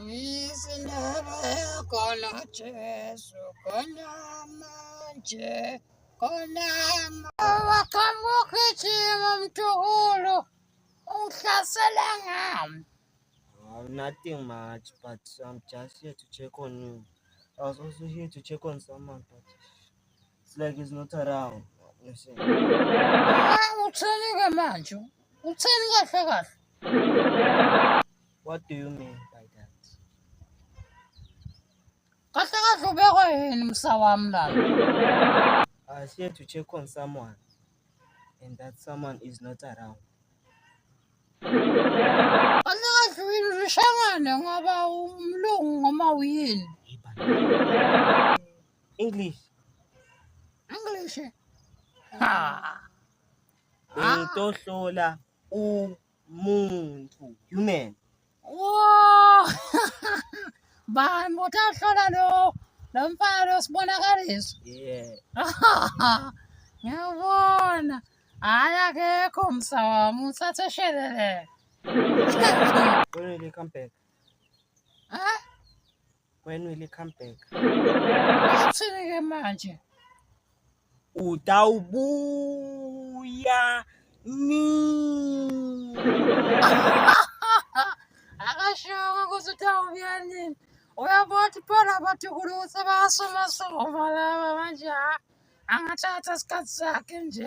Ngiyise ndaba khona Jesu khona manje khona wakhamba ugijima mthukulu ungihlasela ngami oh, nothing much but I'm just here to check on you I was also here to check on someone but It's like he's not around. Ah, uthini ke manje? Uthini kahle kahle? What do you mean by that? Kahle kahle ubekwe yini msa wami la? I was here to check on someone and that someone is not around. Kahle kahle wini ushangane ngoba umlungu ngoma uyini? English. English. Ha. Ngitohlola umuntu, human. Wow! Bani utahlola lo lo mfana osibonakaliso. Yeah. Ngiyabona. Hayi akekho msa wami uthathe shelele. Qinile come back. when will he come back Sike manje. utawubuya nini Akashongo ukuthi utawubuya nini. Uyabona ukuthi phela abathukulu ukuthi bayasumasoma laba manje ha. Angathatha isikhathi sakhe nje.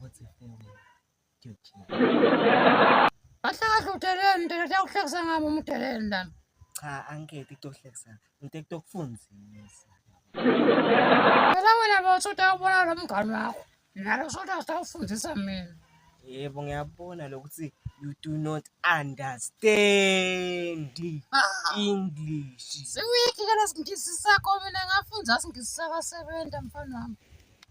What's a family? Gucci. Ahlakahla udeleni nto nto yakuhlekisa ngami uma udeleni lana. Cha angikhethi kutohlekisa. Ngithe kutokufundisa. Phela wena bothi utawubona lo mngani wakho. Nalo sothi asitawufundisa mina. Yebo ngiyabona lokuthi you do not understand Ah. English. Siwiki ke lesingisi sakho mina ngafunda singisi sakasebenza mfana wami.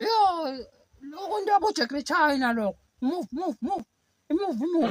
Yo, lokho into yabo Jack China lokho. Move, move, move. Move, move.